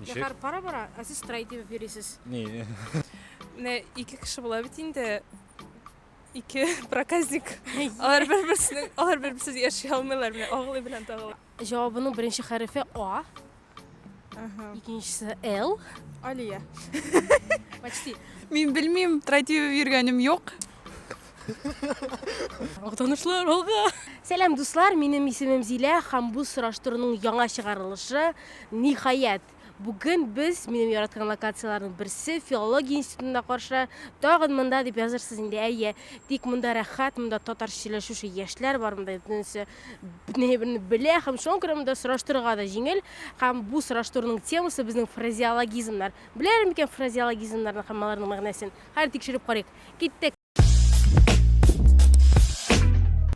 Ничек? Зәхәр бара-бара, ә сез трай дип йөрисез. Ни? Менә ике кеше була бит инде. Ике проказник. Алар бер-берсенең, алар бер-берсез яши алмыйлар, менә агылы белән тагылы. Җавабының беренче хәрефе А, Ага. икенчесе Л. Алия. Почти. Мин белмим, трай дип йөргәнем юк. Актанышлар алга! Сәлам, дуслар! Минем исемем Зилә һәм бу сораштыруның яңа чыгарылышы ниһаять. Бүген без минем яраткан локацияләрнең берсе филология институтында каршы. Тагын монда дип язырсыз инде, әйе. Тик монда рәхәт, монда татарча сөйләшүче яшьләр бар, монда бөтенесе бөтенеберне белә һәм шуңа күрә монда сораштырырга да җиңел. Һәм бу сораштыруның темасы безнең фразеологизмнар. Беләләр микән фразеологизмнарны һәм аларның мәгънәсен? Хәер, тикшереп карыйк. Киттек!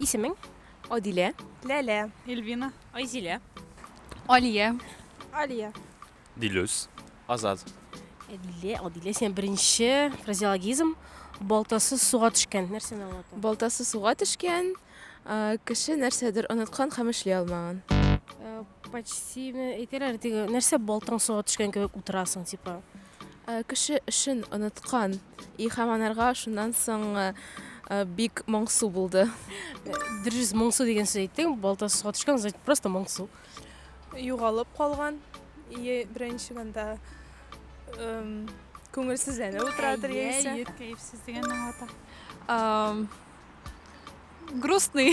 Исемең? Адилә. Ләлә. Эльвина. Айзилә. Алия. Алия. Дилүс. Азат. Әлилә, Адилә, син беренче фразеологизм балтасы суга төшкән. Нәрсәне аңлата? Балтасы суга төшкән, а, кеше нәрсәдер оныткан һәм эшли алмаган. Э, Почти ме- әйтәләр, теге нәрсә балтаң суга төшкән кебек утырасың, типа. Кеше эшен оныткан и һәм анарга шуннан соң бик моңсу булды. Дөрес, моңсу дигән сүз әйттең, балтасы суга төшкән, значит, просто моңсу. Югалып калган и беренче монда күңелсезләнеп утырадыр яисә. Әйе, кәефсез дигәнне аңлата. Грустный.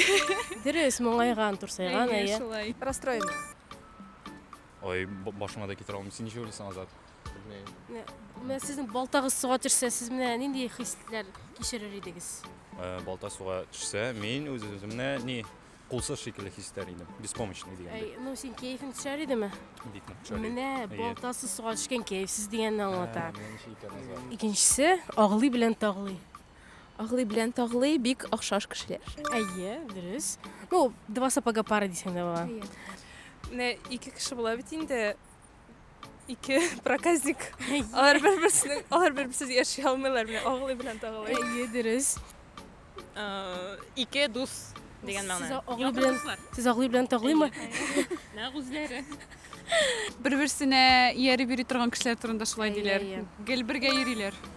Дөрес, моңайган, турсайган, әйе. Әйе, шулай. Расстроенный. Ой, башыма да китерә алмыйм. Син ничек уйлыйсың, Азат? Белмим. Менә сезнең балтагыз суга төшсә, сез менә нинди хисләр кичерер идегез? Э, балта суга төшсә, мин үз үземне ни кулсыз шикелле хис итәр идем. Беспомощный дигәндәй. Ну, син кәефең төшәр идеме? Бик нык төшәр. Менә балтасы суга төшкән кәефсез дигәнне аңлата. Икенчесе, агылый белән тагылый. Аглый белән Таглый бик охшаш кешеләр. Әйе, дөрес. Ну, два сапога пара дисең дә була. Менә ике кеше була бит инде. Ике проказник. Алар бер-берсенең, алар бер-берсез яши алмыйлар. Менә Аглый белән Таглый. Әйе, дөрес. Э, Ике дус дигән мәгънә. Сез Аглый белән Сез Аглый белән Таглыймы? Нәкъ үзләре. Бер-берсенә ияреп йөри торган кешеләр турында шулай диләр. Гел бергә йөриләр.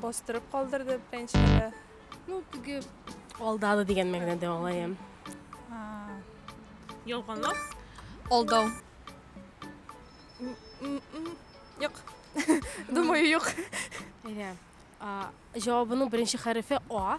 Бастырып калдырды пенчкада. Ну, теге алдады дигән мәгънәдә алаем. Ялганлап. Алдау. Юк. Думаю, юк. Әйдә. Җавабының беренче хәрефе А.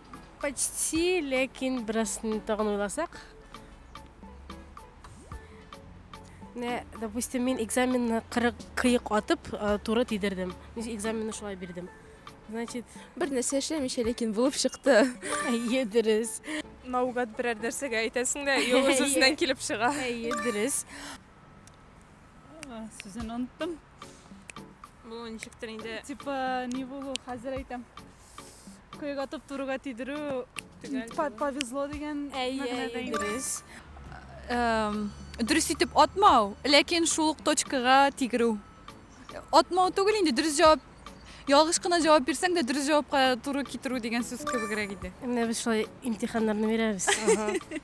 Почти, ләкин бераз тагын уйласак. Менә, допустим, мин экзаменны кырык кыек атып, э, туры тидердем. Ничек экзаменны шулай бирдем. Значит, Бер нәрсә эшләмичә, ләкин булып чыкты. әйе, дөрес. Наугад берәр нәрсәгә әйтәсең дә, и ул үз-үзеннән килеп чыга. Әйе, дөрес. Сүзен оныттым. Бу ничектер инде. Типа, ни булу, хәзер әйтәм. Коега туп-турыга тидерү повезло дигән мәгънәдә дөрес. Дөрес итеп атмау, ләкин шул ук точкага тигерү. Атмау түгел инде, дөрес җавап ялгыш кына җавап бирсәң дә дөрес җавапка туры китерү дигән сүз кебегрәк иде. Менә без шулай имтиханнарны бирәбез.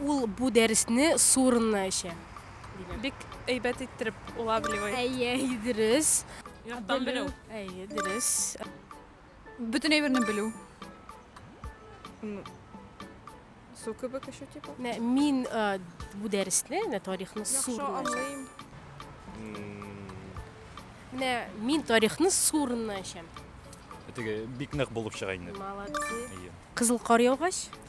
Ул бу дәресне су урынына эчә, диләр. Бик әйбәт иттереп улавливай. Әйе, дөрес. Яттан белү. Әйе, дөрес. Бөтен әйберне белү. Су кебек эчү типа. Менә мин э, бу дәресне, менә тарихны су Яхшы урынына эчәм. аңлыйм. Менә мин тарихны су урынына эчәм. Теге бик нык булып чыга инде. Молодцы. Әйе. Кызыл кар яугач,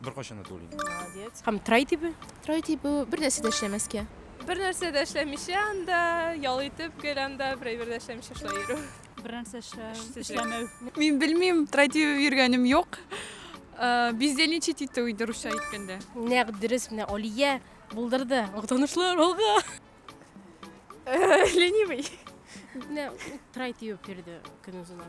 Беркайчан да түгел инде. Молодец. Һәм трай тибе? Трай тибе бер нәрсә дә эшләмәскә. Бер нәрсә дә эшләмичә анда, ял итеп гел анда берәй бер дә эшләмичә шулай йөрү. Бер нәрсә эшләмәү. Мин белмим, трай тибеп йөргәнем юк. Э, бездельничать итү иде русча әйткәндә. Нәкъ дөрес менә Алия булдырды. Уктанышлар алга. Э, ленивый. Менә трай тибеп йөрде көнозына.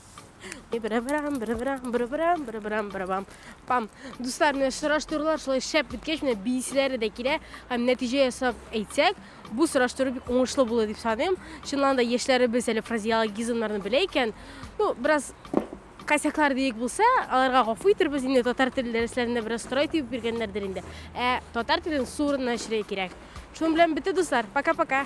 Бра-брам, бра-брам, бра-брам, бра-брам, бра-бам. Пам. Дуслар, менә сораштырулар шулай шәп беткәч, менә бийсиләре дә килә. Һәм нәтиҗә ясап әйтсәк, бу сораштыру бик уңышлы булды дип саныйм. Чыннан да яшьләребез әле фразеологизмнарны белә икән. Ну, бераз косяклар диек булса, аларга гафу итәрбез. Инде татар теле дәресләрендә бераз сорай тибеп биргәннәрдер инде. Ә татар телен су урынына эшләргә кирәк. Шуның белән бетте, дуслар. Пока-пока.